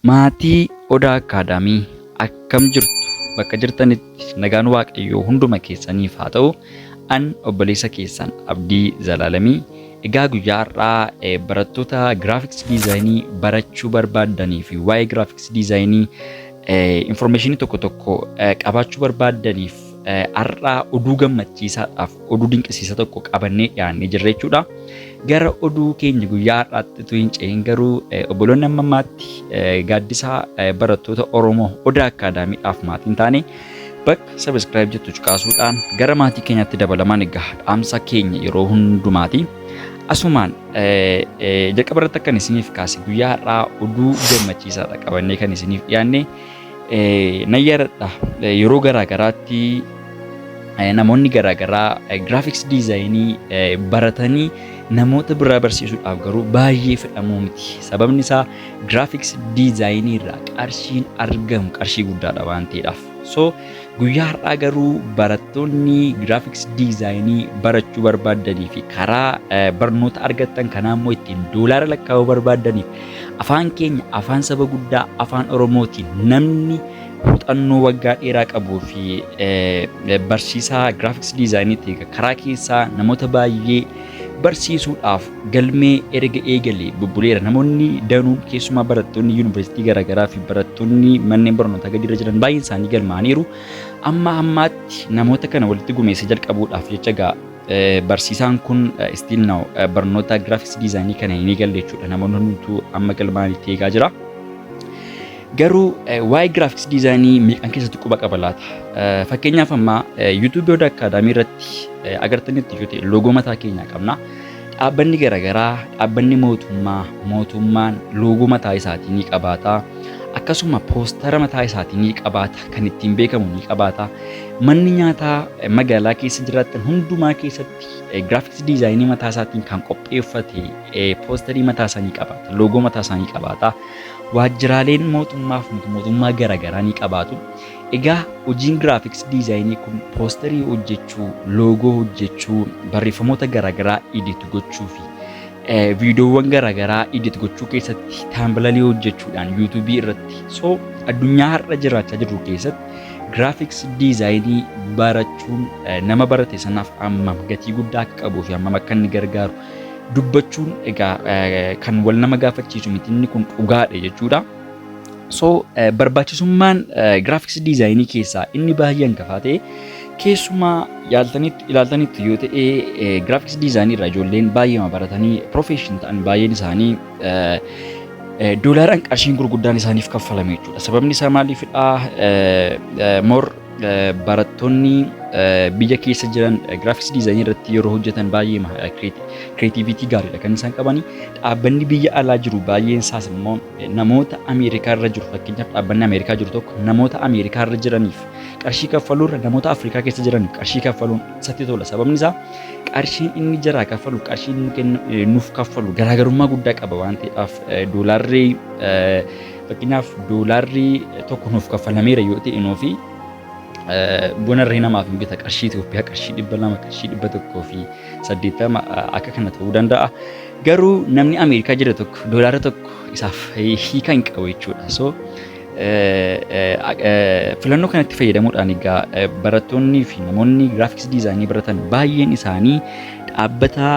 Maatii Odaa Akkaadaamii akkam jirtu? Bakka jirtanitti nagaan Waaqayyoo hunduma keessaniif haa ta'u. An obboleessa keessan Abdii Zalaalamii. Egaa guyyaa har'aa barattoota giraafiks diizaayinii barachuu barbaaddanii fi waa'ee giraafiks diizaayinii informeeshinii tokko tokko qabaachuu barbaaddaniif Har'aa oduu gammachiisaadhaaf oduu dinqisiisa tokko qabannee dhiyaannee jirra jechuudha. Gara oduu keenya guyyaa har'aatti utuu hin ce'in garuu obboloonni amma ammaatti gaaddisaa barattoota Oromoo Odaa Akkaadaamiidhaaf maatiin taane bakka sabiskiraayib jettu cuqaasuudhaan gara maatii keenyaatti dabalamaan egaa dhaamsa keenya yeroo hundumaati. Asumaan jalqaba irratti akkan isiniif kaase guyyaa har'aa oduu gammachiisaadha qabannee kan isiniif dhiyaanne. Nan yaadadha yeroo garaa garaatti namoonni garaa garaa giraafiks diizaayinii baratanii namoota biraa barsiisuudhaaf garuu baay'ee fedhamuu miti. Sababni isaa giraafiks diizaayinii irraa qarshiin argamu qarshii guddaadha waan ta'eedhaaf. So Guyyaa har'aa garuu barattoonni giraafiks diizaayinii barachuu barbaaddanii fi karaa barnoota argattan kanaa immoo ittiin doolaara lakkaa'uu barbaaddaniif afaan keenya afaan saba guddaa afaan Oromootiin namni muuxannoo waggaa dheeraa qabuu fi barsiisaa giraafiks diizaayiniitiin karaa keessaa namoota baay'ee barsiisuudhaaf galmee erga eegalee bubbuleera. Namoonni danuun keessumaa barattoonni yuunivarsiitii garaagaraa fi barattoonni manneen barnootaa gadiirra jiran baay'een isaanii galmaa'aniiru. Amma ammaatti namoota kana walitti gumeessa jalqabuudhaaf jecha gaa barsiisaan kun still now barnoota graphics design kana hin eegalle jechuudha. Namoonni hundumtuu amma galmaa'anitti eegaa jira. Garuu waa'ee graphics design meeqan keessatti quba qaba laata? Fakkeenyaaf amma YouTube Yoda Academy irratti agartanitti yoo ta'e loogoo mataa keenyaa qabna. Dhaabbanni garagaraa, dhaabbanni mootummaa, mootummaan loogoo mataa isaatii ni qabaata. Akkasuma poostara mataa isaatii ni qabaata, kan ittiin beekamu ni qabaata. Manni nyaataa magaalaa keessa jiraatan hundumaa keessatti giraafiks diizaayinii mataa isaatiin kan qopheeffate poostarii mataa isaa ni qabaata, loogoo mataa isaa ni qabaata. Waajjiraaleen mootummaaf mootummaa garagaraa ni qabaatu. Egaa hojiin graphics design kun poosterii hojjechuu, loogoo hojjechuu, barreeffamoota garaagaraa edit gochuu fi viidiyoowwan garaagaraa edit gochuu keessatti taambilalii hojjechuudhaan yuutuubii irratti so addunyaa har'a jiraachaa jirru keessatti graphics design barachuun nama barate sanaaf hammam gatii guddaa akka qabuu fi hammam akka inni gargaaru dubbachuun egaa kan wal nama gaafachiisu miti inni kun dhugaadha jechuudha. So eh, barbaachisummaan eh, graphics design keessaa inni baay'ee hangafaa ta'e keessumaa yaaltanitti ilaaltanitti yoo ta'e eh, graphics design irraa ijoolleen baay'eema baratanii profession ta'an baay'een isaanii eh, eh, doolaaraan qarshiin gurguddaan isaaniif kaffalame jechuudha. Sababni isaa maaliifidha? Eh, eh, more barattoonni biyya keessa jiran giraafiks diizaayinii irratti yeroo hojjetan baay'ee kireetiivitii gaariidha kan isaan qaban. Dhaabbanni biyya alaa jiru baay'een isaas immoo namoota Ameerikaa irra jiru fakkeenyaaf dhaabbanni Ameerikaa jiru tokko namoota Ameerikaa irra jiraniif qarshii kaffaluu irra namoota Afrikaa keessa jiraniif qarshii kaffaluun isatti tola. Sababni isaa qarshiin inni jaraa kaffalu qarshiin nuuf kaffalu garaagarummaa guddaa qaba waan ta'eef doolaarri Fakkeenyaaf doolaarri tokko nuuf kaffalameera yoo ta'e nuufi buna irree namaaf hin bita qarshii Itoophiyaa qarshii dhibba lama qarshii dhibba tokkoo fi saddeettama akka kana ta'uu danda'a. Garuu namni Ameerikaa jira tokko doolaara tokko isaaf hiika hin qabu jechuudha. So filannoo kanatti fayyadamuudhaan egaa barattoonnii fi namoonni giraafiks diizaayinii baratan baay'een isaanii dhaabbata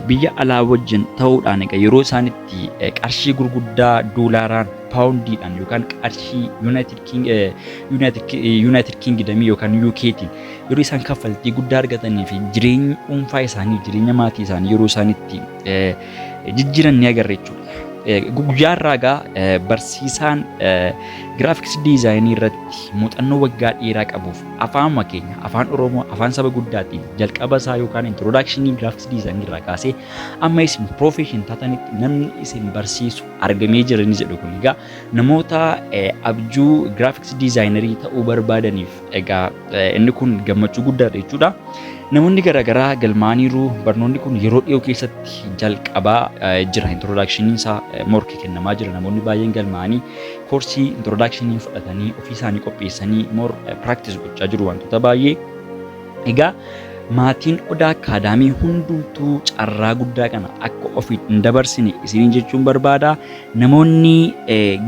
biyya alaa wajjin ta'uudhaan egaa yeroo isaan irratti qarshii gurguddaa doolaaraan paawundiidhaan yookaan qarshii yuunaayitid kiingidamii yookaan yuukeetiin yeroo isaan kaffaltii guddaa argatanii fi jireenya dhuunfaa isaanii jireenya maatii isaanii yeroo isaan itti jijjiiran ni agarra jechuudha. Guyyaa irraa egaa barsiisaan giraafiks diizaayinii irratti muuxannoo waggaa dheeraa qabuuf afaanuma keenya afaan Oromoo afaan saba guddaatiin jalqaba isaa yookaan introdakshinii giraafiks diizaayinii irraa kaasee Amma isin profession taatanitti namni isin barsiisu argamee jira ni jedhu kun egaa namoota eh, abjuu graphics designerii ta'uu barbaadaniif egaa eh, inni kun gammachuu guddaadha jechuudha. Namoonni garaagaraa galmaa'aniiru barnoonni kun yeroo dhiyoo keessatti jalqabaa eh, jira introduction isaa eh, morki kennamaa jira namoonni baay'een galmaa'anii koorsii introduction fudhatanii ofii isaanii qopheessanii more eh, practice gochaa jiru wantoota baay'ee Egaa maatiin Odaa Akkaadaamii hundumtuu carraa guddaa kana akka ofiin hin dabarsine isiniin jechuun barbaada. Namoonni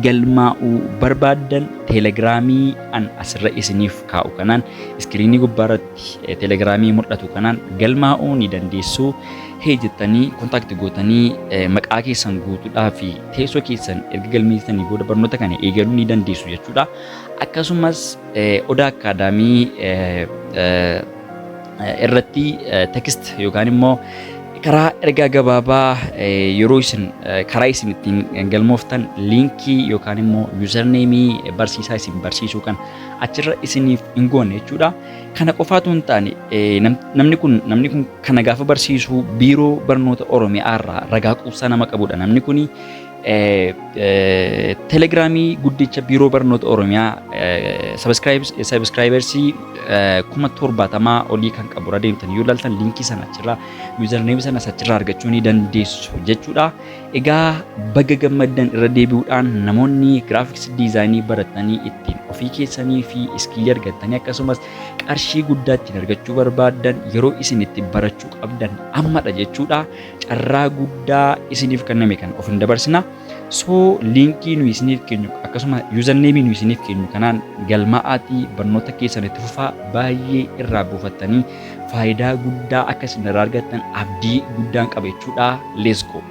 galmaa'uu barbaaddan teelegiraamii an asirra isiniif kaa'u kanaan iskiriinii gubbaa irratti teelegiraamii mul'atu kanaan galmaa'uu ni dandeessu. Hee jettanii kontaakti gootanii maqaa keessan guutuudhaa fi teessoo keessan erga galmeessitanii booda barnoota kana eegaluu ni dandeessu jechuudha. Akkasumas Odaa Akkaadaamii irratti tekst yookaan immoo karaa ergaa gabaabaa yeroo isin karaa isin ittiin galmooftan liinkii yookaan immoo yuuzarneemii barsiisaa isin barsiisuu kan achirra isiniif hin goone jechuudha. Kana qofaatu hin taane namni kun namni kun kana gaafa barsiisuu biiroo barnoota Oromiyaa irraa ragaa quubsaa nama qabudha namni kuni Telegiraamii guddicha Biiroo Barnoota Oromiyaa sabiskiraayibersii kuma torbaatamaa olii kan qabu irra deemtan yoo ilaaltan liinkii sana achirraa yuuzarneemii sana achirraa argachuu ni dandeessu jechuudha. Egaa baga gammaddan irra deebi'uudhaan namoonni giraafiks diizaayinii baratanii ittiin ofii keessanii fi iskiilii argattanii akkasumas qarshii guddaa ittiin argachuu barbaaddan yeroo isin itti barachuu qabdan ammadha jechuudha. carraa guddaa isiniif kenname kan of hin dabarsina. So liinkii nuyi isiniif keenyu akkasuma yuuzarneemii nuyi isiniif keenyu kanaan galmaa'aatii barnoota keessan itti fufaa baay'ee irraa buufattanii faayidaa guddaa akka isin irraa argattan abdii guddaan qaba jechuudha. Let's go!